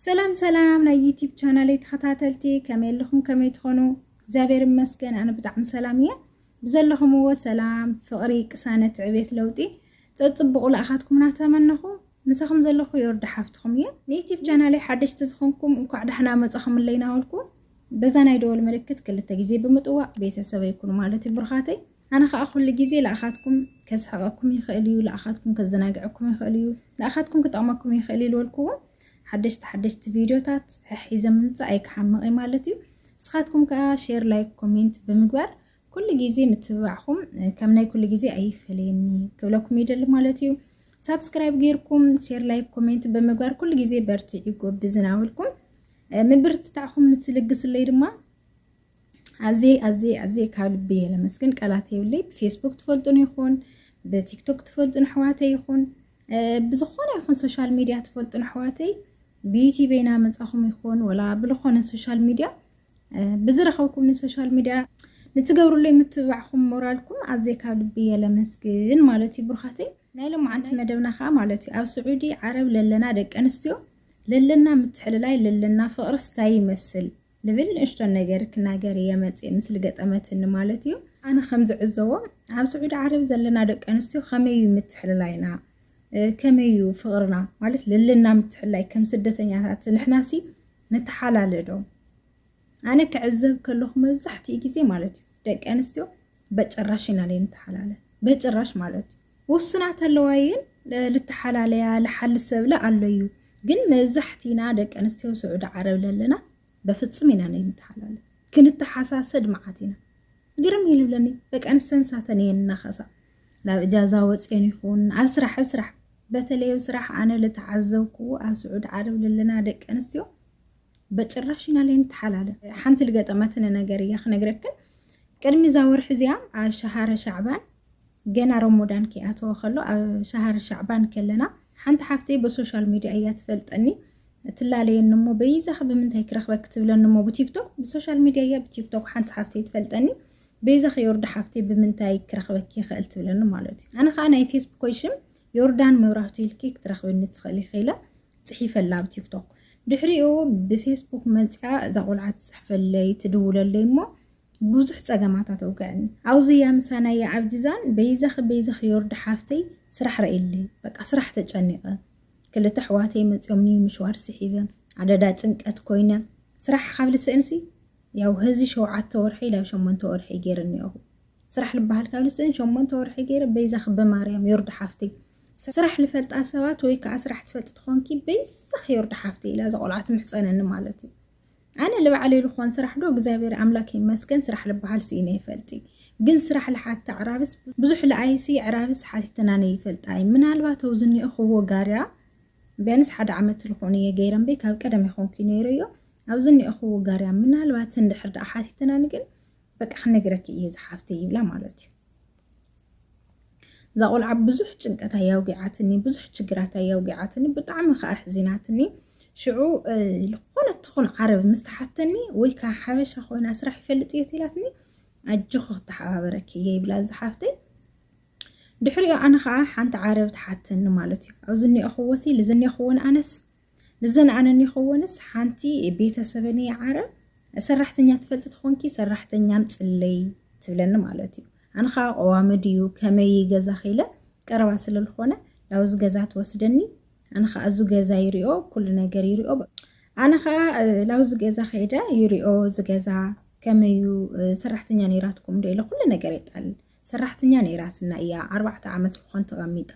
ሰላም ሰላም ናይ ዩቲብ ቻናለይ ተኸታተልቲ ከመይ ኣለኹም ከመይ ትኾኑ እግዚኣብሔር ይመስገን ኣነ ብጣዕሚ ሰላም እየ ብዘለኹምዎ ሰላም ፍቕሪ ቅሳነት ዕቤት ለውጢ ፀፅብቑ ልኣኻትኩም እናተመነኹ ምሳኹም ዘለኹ የወርዳ ሓፍትኹም እየ ንዩቲብ ቻናለይ ሓደሽቲ ዝኾንኩም እንኳዕ ዳሕና መፃኹምለይ ናበልኩ በዛ ናይ ደወል ምልክት ክልተ ግዜ ብምጥዋቕ ቤተሰበይ ኩኑ ማለት እዩ ብሩኻተይ ኣነ ከኣ ኩሉ ግዜ ልኣኻትኩም ከስሕቐኩም ይኽእል እዩ፣ ልኣኻትኩም ከዘናግዐኩም ይኽእል እዩ፣ ልኣኻትኩም ክጠቕመኩም ይኽእል እዩ ልበልኩዎም ሓደሽቲ ሓደሽቲ ቪድዮታት ሕሒዘ ምምጻእ ኣይክሓምቕ እየ ማለት እዩ። ንስኻትኩም ከኣ ሼር ላይክ ኮሜንት ብምግባር ኩሉ ግዜ ምትብባዕኹም ከም ናይ ኩሉ ግዜ ኣይፈለየኒ ክብለኩም ይደሊ ማለት እዩ። ሳብስክራይብ ጌርኩም ሼር ላይክ ኮሜንት ብምግባር ኩሉ ግዜ በርትዒ ጎብዝን ኣበልኩም ምብርትታዕኹም ንትልግስለይ ድማ ኣዝየ ኣዝየ ኣዝየ ካብ ልቢ እየ ለመስግን ቃላት የብለይ ብፌስቡክ ትፈልጡን ይኹን ብቲክቶክ ትፈልጡን ኣሕዋተይ ይኹን ብዝኾነ ይኹን ሶሻል ሚድያ ትፈልጡን ኣሕዋተይ ብዩቲብ ኢና መፃኹም ይኹን ወላ ብዝኾነ ሶሻል ሚድያ ብዝረኸብኩም ንሶሻል ሚድያ ንትገብርሉ የምትብባዕኹም ሞራልኩም ኣዝየ ካብ ልቢ እየ ለመስግን ማለት እዩ ብሩኻተይ ናይ ሎማዓንቲ መደብና ከዓ ማለት እዩ ኣብ ስዑዲ ዓረብ ለለና ደቂ ኣንስትዮ ለለና ምትሕልላይ ለለና ፍቕርስ እንታይ ይመስል ልብል ንእሽቶ ነገር ክናገር እየ መጽእ ምስሊ ገጠመትኒ ማለት እዩ። ኣነ ከም ዝዕዘቦ ኣብ ስዑዲ ዓረብ ዘለና ደቂ ኣንስትዮ ከመይ እዩ ምትሕልላይና ከመይ እዩ ፍቕርና ማለት ልልና ምትሕላይ ከም ስደተኛታት ንሕናሲ ንተሓላለዶ ኣነ ክዕዘብ ከለኹ መብዛሕትኡ ግዜ ማለት እዩ ደቂ ኣንስትዮ በጭራሽ ኢና ለይ ንተሓላለ በጭራሽ ማለት እዩ ውሱናት ኣለዋ እየን ልተሓላለያ ልሓሊ ሰብለ ኣሎ እዩ ግን መብዛሕቲና ደቂ ኣንስትዮ ስዑዲ ዓረብ ለለና በፍፅም ኢና ንተሓላለ ክንተሓሳሰድ መዓት ኢና ግርም እዩ ልብለኒ ደቂ ኣንስተን ሳተን እየን እናኸሳ ናብ እጃዛ ወፅየን ይኹን ኣብ ስራሕ ኣብ ስራሕ በተለይ ኣብ ስራሕ ኣነ ልተዓዘብክዎ ኣብ ስዑዲ ዓረብ ለለና ደቂ ኣንስትዮ በጭራሽ ኢና ለይ ንተሓላለ ሓንቲ ልገጠመትኒ ነገር እያ ክነግረክን ቅድሚ እዛ ወርሒ እዚኣ ኣብ ሸሃረ ሻዕባን ገና ሮሞዳን ከይኣተወ ከሎ ኣብ ሻሃር ሻዕባን ከለና ሓንቲ ሓፍተይ ብሶሻል ሚድያ እያ ትፈልጠኒ ትላለየኒ እሞ በይዛኺ ብምንታይ ክረኽበኪ ትብለኒ እሞ ብቲክቶክ ብሶሻል ሚድያ እያ ብቲክቶክ ሓንቲ ሓፍተይ ትፈልጠኒ በይዛኺ ዮርዳ ሓፍተይ ብምንታይ ክረኽበኪ ይኽእል ትብለኒ ማለት እዩ ኣነ ከዓ ናይ ፌስቡኮይ ሽም ዮርዳን መብራህቱ ኢልኪ ክትረኽብኒ ትኽእል ይኽኢለ ፅሒፈላ ኣብ ቲክቶክ ድሕሪኡ ብፌስቡክ መፅኣ እዛ ቆልዓ ትፅሕፈለይ ትድውለለይ እሞ ብዙሕ ጸገማት ኣተውግዕኒ ኣውዝያ ምሳና እያ ኣብ ጂዛን በይዛኺ በይዛኺ ዮርዲ ሓፍተይ ስራሕ ረኢለይ በቃ ስራሕ ተጨኒቀ ክልተ ኣሕዋተይ መጽዮም ንዩ ምሽዋር ስሒበ ኣደዳ ጭንቀት ኮይነ ስራሕ ካብ ልስእንሲ ያው ህዚ ሸውዓተ ወርሒ ላብ ሸሞንተ ወርሒ ገይረ ኒኦኹ ስራሕ ልበሃል ካብ ልስእን ሸሞንተ ወርሒ ገይረ በይዛኺ ብማርያም ዮርዲ ሓፍተይ ስራሕ ልፈልጣ ሰባት ወይ ከዓ ስራሕ ትፈልጢ ትኾንኪ በይዛኺ ዮርዲ ሓፍተይ ኢላ እዛ ቆልዓ ትምሕጸነኒ ማለት እዩ ኣነ ልባዕለይ ልኾን ስራሕ ዶ እግዚኣብሔር ኣምላክ ይመስገን ስራሕ ልበሃል ስኢነ ይፈልጢ ግን ስራሕ ልሓቲ ኣዕራብስ ብዙሕ ልኣይሲ ኣዕራብስ ሓቲተናነ ይፈልጣይ ምናልባት ኣው ዝኒኦ ክዎ ጋርያ ቢያንስ ሓደ ዓመት ልኾን እየ ገይረንበይ ካብ ቀደም ይኾንኩ ነይረዮ ኣብ ዝኒኦ ክዎ ጋርያ ምናልባት እንድሕር ደኣ ሓቲተናኒ ግን በቃ ክነግረኪ እየ ዝሓፍተይ ይብላ ማለት እዩ እዛ ቆልዓ ብዙሕ ጭንቀት ኣያውጊዓትኒ ብዙሕ ችግራት ኣያውጊዓትኒ ብጣዕሚ ከዓ ሕዚናትኒ ሽዑ ዝኾነት ትኹን ዓረብ ምስ ተሓተኒ ወይ ከዓ ሓበሻ ኮይና ስራሕ ይፈልጥ እየ ትላትኒ ኣጆኺ ክተሓባበረኪ እየ ይብላ ዝሓፍተይ ድሕሪኡ ኣነ ከዓ ሓንቲ ዓረብ ተሓተኒ ማለት እዩ ኣብ ዝኒኦኽዎሲ ዝኒኦኽዎን ኣነስ ንዘን ኣነ ይኸወንስ ሓንቲ ቤተሰበን እየ ዓረብ ሰራሕተኛ ትፈልጢ ትኾንኪ ሰራሕተኛን ፅለይ ትብለኒ ማለት እዩ ኣነ ከዓ ቀዋሚ ድዩ ከመይ ገዛ ኸይለ ቀረባ ስለዝኾነ ናብዚ ገዛ ትወስደኒ ኣነ ከዓ እዚ ገዛ ይሪኦ ኩሉ ነገር ይሪኦ ኣነ ከዓ ናብዚ ገዛ ከይደ ይሪኦ እዚ ገዛ ከመዩ ሰራሕተኛ ነይራትኩም ዶ ኢለ ኩሉ ነገር የጣል ሰራሕተኛ ነይራትና እያ ኣርባዕተ ዓመት ንኾን ተቐሚጣ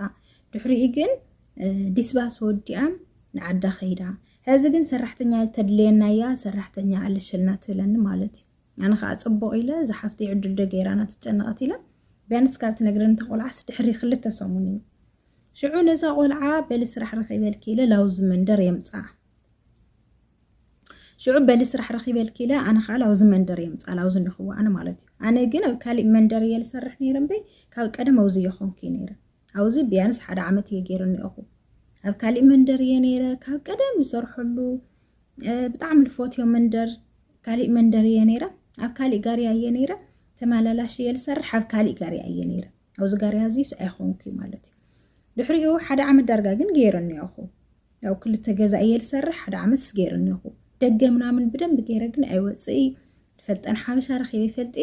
ድሕሪኡ ግን ዲስባስ ወዲኣን ንዓዳ ከይዳ ሕዚ ግን ሰራሕተኛ ተድልየና እያ ሰራሕተኛ ኣለሸልና ትብለኒ ማለት እዩ ኣነ ከዓ ፅቡቅ ኢለ እዛ ሓፍቲ ዕድል ዶ ገይራና ትጨነቐት ኢለ ቢያንስ ካብ ትነግረኒ እታ ቆልዓስ ድሕሪ ክልተ ሰሙን እዩ ሽዑ ነዛ ቆልዓ በሊ ስራሕ ረኺበልኪ ኢለ ላውዚ መንደር የምፅኣ ሽዑ በሊ ስራሕ ረኺበልኪ ኢለ ኣነ ከዓ ላውዚ መንደር እየ ምፃ ላውዚ እንረኽቦ ኣነ ማለት እዩ ኣነ ግን ኣብ ካሊእ መንደር እየ ዝሰርሕ ነይረ እምበይ ካብ ቀደም ኣውዚ እየ ኮንኩ ነይረ ኣውዚ ቢያንስ ሓደ ዓመት እየ ገይረኒ እኹ ኣብ ካሊእ መንደር እየ ነይረ ካብ ቀደም ዝሰርሐሉ ብጣዕሚ ልፎትዮ መንደር ካሊእ መንደር እየ ነይረ ኣብ ካሊእ ጋርያ እየ ነይረ ተመላላሽ እየ ዝሰርሕ ኣብ ካሊእ ጋርያ እየ ነይረ ኣብዚ ጋርያ እዚ ሰኣይ ኮንኩ ማለት እዩ ድሕሪኡ ሓደ ዓመት ዳርጋ ግን ገይረ እኒኦኹ ያው ክልተ ገዛ እየ ዝሰርሕ ሓደ ዓመት ስገይረ እኒኦኹ ደገ ምናምን ብደንብ ገይረ ግን ኣይወፅእ ፈልጠን ሓበሻ ረኪበ ይፈልጥ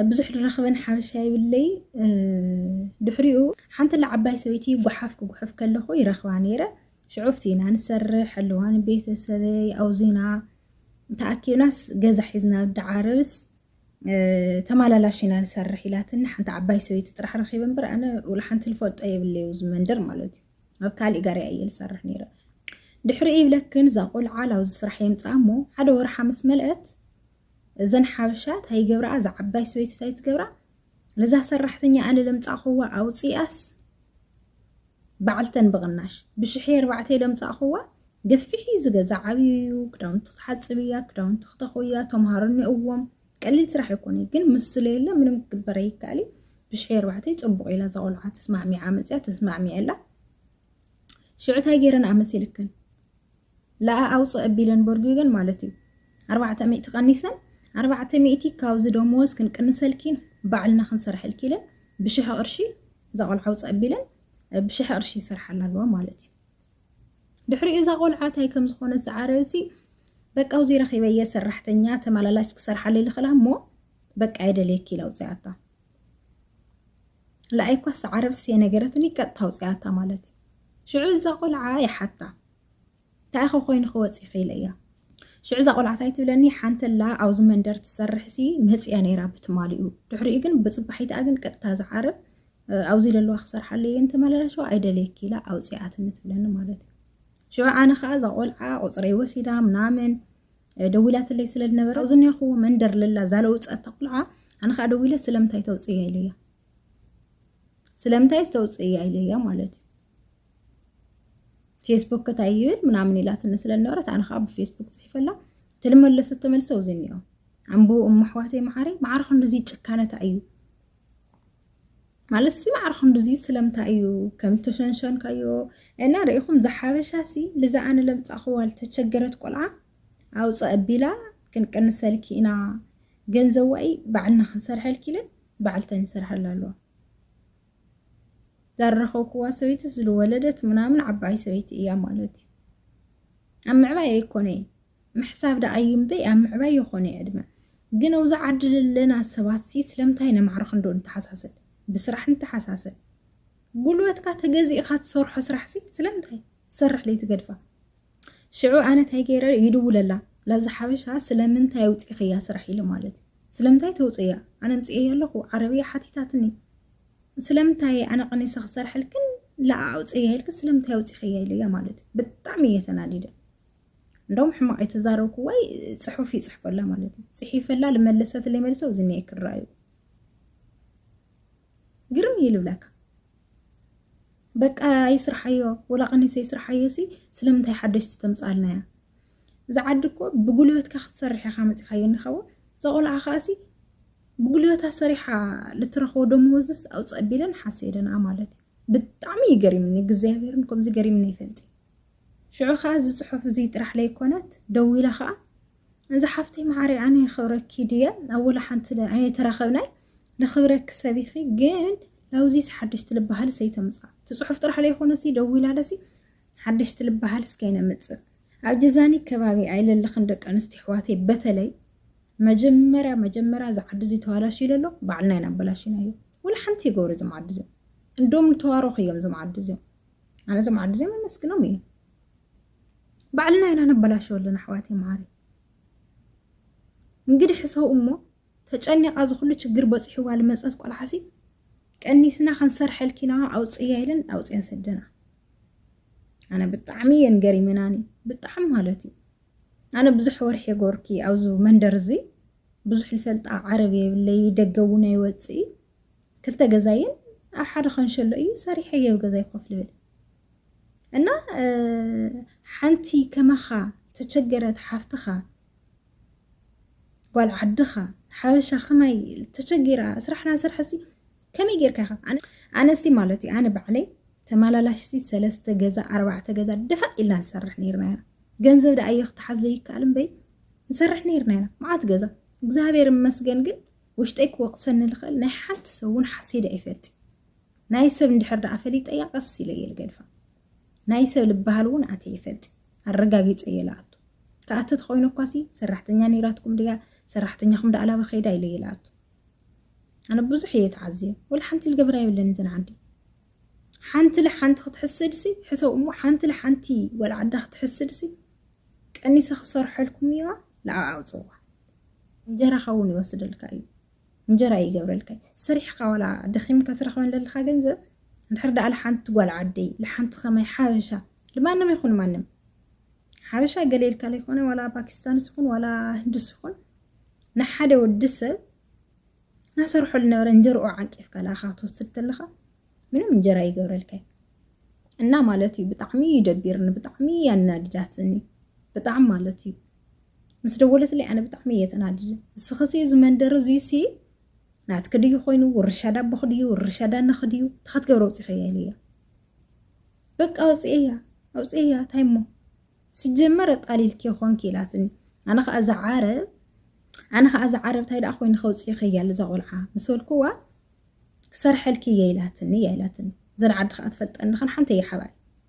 ብዙሕ ዝረክበን ሓበሻ ይብለይ ድሕሪኡ ሓንቲ ለዓባይ ሰበይቲ ጉሓፍ ክጉሕፍ ከለኹ ይረክባ ነይረ ሽዑፍቲ ኢና ንሰርሕ ኣለዋን ቤተሰበይ ኣውዚና ተኣኪብናስ ገዛ ሒዝና ዳዓረብስ ተማላላሽ ኢና ንሰርሕ ኢላትኒ ሓንቲ ዓባይ ሰበይቲ ጥራሕ ረኺበ እምበር ኣነ ወላ ሓንቲ ልፈልጦ የብለ እዩ ዝመንደር ማለት እዩ ኣብ ካሊእ ጋርያ እየ ዝሰርሕ ነይረ ድሕሪ ይብለክን እዛ ቆልዓ ናብዚ ስራሕ የምፅኣ እሞ ሓደ ወርሓ ምስ መልአት እዘን ሓበሻ እንታይ ይገብርኣ እዛ ዓባይ ሰበይቲ እንታይ ትገብራ ነዛ ሰራሕተኛ ኣነ ለምጻእኹዋ ኣውጺኣስ በዓልተን ብቕናሽ ብሽሒ ኣርባዕተ ለምጻእኹዋ ገፊሕ እዩ ዝገዛ ዓብዩ እዩ ክዳውንቲ ክትሓፅብ እያ ክዳውንቲ ክተኹ እያ ተምሃሮ እኒኦዎም ቀሊል ስራሕ ኣይኮነ ግን ምስ ስለየለ ምንም ክግበር ኣይከኣል እዩ ብሽሒ ኣርባዕተ ፅቡቕ ኢላ እዛ ቆልዓ ተስማዕሚዓ መፅያ ተስማዕሚዐላ ሽዑ እንታይ ገይረን ኣመሲልክን ለኣ ኣውፅእ ኣቢለን ቦርጊገን ማለት እዩ ኣርባዕተ ሚእቲ ቀኒሰን ኣርባዕተ ሚእቲ ካብዚ ደመወዝ ክንቅንሰልኪን ባዕልና ክንሰርሐልኪ ኢለን ብሽሕ ቅርሺ እዛ ቆልዓ ኣውፅእ ኣቢለን ብሽሕ ቅርሺ ይሰርሓላ ኣለዋ ማለት እዩ ድሕሪኡ እዛ ቆልዓ እንታይ ከም ዝኾነት ዝዓረብሲ በቃ ውዚ ረኺበየ ሰራሕተኛ ተመላላሽ ክሰርሓለይ ልኽእላ እሞ በቃ የደልየኪ ኢላ ውፅኣታ ለኣይ ኳስ ዓረብሲ የነገረትኒ ቀጥታ ውፅኣታ ማለት እዩ ሽዑ እዛ ቆልዓ ይሓታ ታይኸ ኮይኑ ክወፅ ይኽእል እያ ሽዑ እዛ ቆልዓት ኣይትብለኒ ሓንተላ ኣብዚ መንደር ትሰርሕሲ መፅያ ነይራ ብትማሊኡ ድሕሪኡ ግን ብፅባሒትኣ ግን ቀጥታ ዝዓርብ ኣብዚ ዘለዋ ክሰርሓለ እየ እንተመላላሸዋ ኣይደልየኪ ኢላ ኣውፅኣትኒ ትብለኒ ማለት እዩ ሽዑ ኣነ ከዓ እዛ ቆልዓ ቁፅረይ ወሲዳ ምናምን ደዊላትለይ ስለ ዝነበረ ኣብዚ ኒኹዎ መንደር ለላ ዛለውፀታ ቆልዓ ኣነ ከዓ ደዊለ ስለምንታይ ተውፅእያ ኢለያ ስለምንታይ ዝተውፅእያ ኢለያ ማለት እዩ ፌስቡክ እንታይ ይብል ምናምን ኢላትኒ ስለነበረት ኣነ ከዓ ብፌስቡክ ፅሒፈላ ትልመለሰ ተመልሰ ውዚ እኒኦ ኣንብቡ እሞ ኣሕዋተይ መዓሪ ማዕረ ክንድዚ ጭካነታ እዩ ማለት ሲ ማዕረ ክንድዚ ስለምንታይ እዩ ከም ዝተሸንሸንካዮ እና ርኢኹም ዝሓበሻ ሲ ልዛ ኣነ ለምፃእኽዋ ዝተቸገረት ቆልዓ ኣውፀ ኣቢላ ክንቅንሰልኪ ኢና ገንዘብ ዋኢ ባዕልና ክንሰርሐልኪ ኢለን ባዕልተን ይሰርሐላ ኣለዋ ዛረኸብክዋ ሰበይቲ ዝልወለደት ምናምን ዓባይ ሰበይቲ እያ ማለት እዩ ኣብ ምዕባይ ኣይኮነይ ምሕሳብ ደኣ እዩ እምበይ ኣብ ምዕባይ ይኾነይ ዕድመ ግን ኣብዚ ዓዲ ዘለና ሰባት ሲ ስለምንታይ ነማዕርኽ እንዶ ንተሓሳሰብ ብስራሕ ንተሓሳሰብ ጉልበትካ ተገዚእኻ ትሰርሖ ስራሕ ሲ ስለምንታይ ትሰርሕ ለይትገድፋ ሽዑ ኣነ እንታይ ገይረ ይድውለላ ላብዚ ሓበሻ ስለምንታይ ኣውፂኽያ ስራሕ ኢለ ማለት እዩ ስለምንታይ ተውፅእያ ኣነ ኣምፅኤያ ኣለኹ ዓረብያ ሓቲታትኒ ስለምንታይ ኣነ ቀኒሰ ክሰርሐልክን ለኣ ኣውፅእያ ኢልክ ስለምንታይ ኣውፂኸያ ኢለያ ማለት እዩ ብጣዕሚ እየ ተናዲደ እንደውም ሕማቕ የተዛረብኩዋይ ፅሑፍ ይፅሕፈላ ማለት እዩ ፅሒፈላ ልመለሰትለይ መልሰ እዚ እኒኤ ክረኣዩ ግርም እዩ ልብለካ በቃ ይስርሓዮ ወላ ቀኒሰ ይስርሓዮ ሲ ስለምንታይ ሓደሽቲ ተምፃልና እያ እዚ ዓዲ እኮ ብጉልበትካ ክትሰርሕ ኢኻ መፂኻዮ እንኸውን እዛ ቆልዓ ከዓሲ ብጉልበታ ሰሪሓ ልትረኽቦ ደመወዝስ ኣውፅ ኣቢለን ሓሰ ኢለንኣ ማለት እዩ ብጣዕሚ እዩ ገሪምኒ እግዚኣብሔርን ከምዚ ገሪምኒ ይፈልጥ ሽዑ ከኣ እዚ ጽሑፍ እዚ ጥራሕ ለይኮነት ደዊለ ከኣ እዚ ሓፍተይ መዓረይ ኣነ የኽብረኪ ድየ ኣብ ወላ ሓንቲ ኣይተራኸብናይ ለኽብረኪ ሰቢኺ ግን ላውዚስ ሓደሽቲ ልበሃል ሰይተምጻ እቲ ጽሑፍ ጥራሕ ለይኮነሲ ደዊላ ለሲ ሓደሽቲ ልበሃል ስከይነምጽእ ኣብ ጀዛኒ ከባቢ ኣይለለኽን ደቂ ኣንስትዮ ኣሕዋተይ በተለይ መጀመርያ መጀመርያ እዚ ዓዲ እዚ ተዋላሽ ይለሎ ባዕልና ኢና ኣበላሽና እዩ ወላ ሓንቲ ይገብሩ እዞም ዓዲ እዚኦም እንዶም ተዋረኹ እዮም እዞም ዓዲ እዚኦም ኣነ እዞም ዓዲ እዚኦም ኣመስግኖም እዩ ባዕልና ኢና ነበላሸው ኣለና ኣሕዋት መዓሪ እንግዲህ ሰው እሞ ተጨኒቃ ዝኩሉ ችግር በፂሕዋ ልመፀት ቆልዓሲ ቀኒስና ክንሰርሐልኪና ኣውፅያ ኢለን ኣውፅየን ሰደና ኣነ ብጣዕሚ እየን ገሪመናኒ ብጣዕሚ ማለት እዩ ኣነ ብዙሕ ወርሒ ጎርኪ ኣብዚ መንደር እዚ ብዙሕ ልፈልጣ ዓረብ የብለይ ደገ እውን ኣይወፅእ ክልተ ገዛይን ኣብ ሓደ ከንሸሎ እዩ ሰሪሐ ገብ ገዛይ ኮፍ ልብል እና ሓንቲ ከማኻ ተቸገረት ሓፍትኻ ጓል ዓድኻ ሓበሻ ከማይ ተቸጊራ ስራሕና ስራሕ ሲ ከመይ ጌርካ ኢኻ ኣነሲ ማለት እዩ ኣነ ባዕለይ ተመላላሽሲ ሰለስተ ገዛ ኣርባዕተ ገዛ ደፋእ ኢልና ንሰርሕ ነርና ኢና ገንዘብ ደኣ እዮ ክትሓዝ ዘይከኣል እምበይ ንሰርሕ ነርና ኢና መዓት ገዛ እግዚኣብሔር መስገን ግን ውሽጠይ ክወቕሰኒ ልኽእል ናይ ሓንቲ ሰብ እውን ሓሲደ ኣይፈልጥን ናይ ሰብ እንድሕር ደኣ ፈሊጠያ ቀስ ኢለ እየ ልገድፋ ናይ ሰብ ልበሃል እውን ኣትየ ይፈልጥ ኣረጋጊፀ እየ ልኣቱ ክኣቲ ተኮይኑ እኳሲ ሰራሕተኛ ነይራትኩም ድያ ሰራሕተኛኹም ደኣ ላባ ከይዳ ኢለ እየ ልኣቱ ኣነ ብዙሕ እየ ተዓዝየ ወላ ሓንቲ ልገብራ የብለን እዘን ዓዲ ሓንቲ ለሓንቲ ክትሕስድሲ ሕሰብ እሞ ሓንቲ ለሓንቲ ወላ ዓዳ ክትሕስድሲ ቀኒሰ ክሰርሐልኩም እያ ለዓዓውፅዋ እንጀራኻ እውን ይወስደልካ እዩ እንጀራ ይገብረልካ ሰሪሕካ ዋላ ደኺምካ ትረኽበን ለለኻ ገንዘብ እንድሕር ዳኣ ለሓንቲ ጓል ዓደይ ለሓንቲ ከማይ ሓበሻ ልማንም ይኹን ማንም ሓበሻ ገሌልካ ለይኮነ ዋላ ፓኪስታንስ ይኹን ዋላ ህንድስ ይኹን ንሓደ ወዲ ሰብ ናሰርሖ ልነበረ እንጀርኦ ዓንቂፍካ ለኣኻ ክትወስድ ተለኻ ምንም እንጀራ ይገብረልካ እና ማለት እዩ ብጣዕሚ እዩ ደቢርኒ ብጣዕሚ ያናድዳትኒ ብጣዕሚ ማለት እዩ ምስ ደወለትለይ ኣነ ብጣዕሚ እየ ተናዲደ እስኸሲ እዚ መንደር እዙይ ሲ ናትኪ ድዩ ኮይኑ ውርሻ ዳቦኺ ድዩ ውርሻ ዳነኺ ድዩ እንታይ ክትገብረ ውፅኢኸያ ኢለያ በቃ ኣውፅኤያ ኣውፅኤያ እንታይ እሞ ስጀመረ ጣሊልኪ ኮንኪ ኢላትኒ ኣነ ከዓ እዛ ዓረብ ኣነ ከዓ እዛ ዓረብ እንታይ ደኣ ኮይኑ ከውፅኢኸያ እዛ ቆልዓ ምስ በልኩዋ ክሰርሐልኪ እየ ኢላትኒ እያ ኢላትኒ ዘን ዓዲ ከዓ ትፈልጠኒ ከን ሓንቲ እየ ሓባይ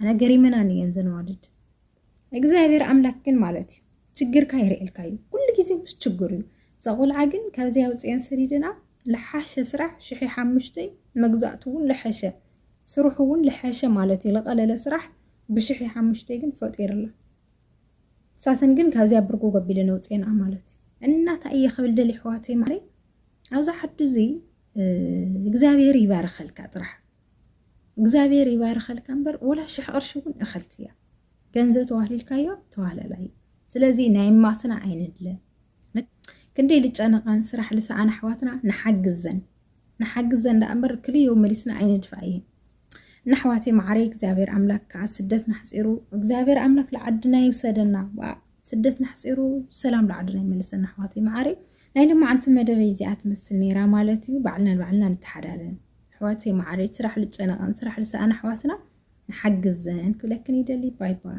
ኣነ ገሪመናን እየን ዘነዋድድ እግዚኣብሔር ኣምላክ ግን ማለት እዩ ችግርካ ይርእልካ እዩ ኩሉ ግዜ ምስ ችግር እዩ እዛ ቆልዓ ግን ካብዚ ኣውፅኤን ሰዲድና ልሓሸ ስራሕ ሽሒ ሓሙሽተይ መግዛእቱ እውን ልሐሸ ስርሑ እውን ልሐሸ ማለት እዩ ልቀለለ ስራሕ ብሽሒ ሓሙሽተይ ግን ፈጢርላ ሳተን ግን ካብዚያ ብርጎ ገቢለን ኣውፅኤና ማለት እዩ እና እንታይ እየ ክብል ደሊ ኣሕዋተይ ማለይ ኣብዚ ሓዱ እዚ እግዚኣብሔር ይባርኸልካ ጥራሕ እግዚኣብሔር ይባርኸልካ እምበር ወላ ሽሕ ቅርሺ እውን እኸልቲ እያ ገንዘብ ተዋህሊልካዮ ተዋህለላ እዩ ስለዚ ናይ ማትና ኣይንድለ ክንደይ ልጨነቓን ስራሕ ልሰኣን ኣሕዋትና ንሓግዘን ንሓግዘን ዳኣ እምበር ክልዮ መሊስና ኣይንድፋ እየን እና ኣሕዋተይ ማዕረይ እግዚኣብሔር ኣምላክ ከዓ ስደት ናሕፂሩ እግዚኣብሔር ኣምላክ ልዓድና ይውሰደና ስደት ናሕፂሩ ሰላም ላዓድና ይመልሰና ኣሕዋተይ መዓረይ ናይ ልማዓንቲ መደበይ እዚኣ ትመስል ነይራ ማለት እዩ ባዕልና ንባዕልና ንተሓዳለን ኣሕዋተይ መዓረይ ስራሕ ልጨነቐን ስራሕ ልሰኣን ኣሕዋትና ንሓግዘን ክብለክን ይደሊ ባይ ባይ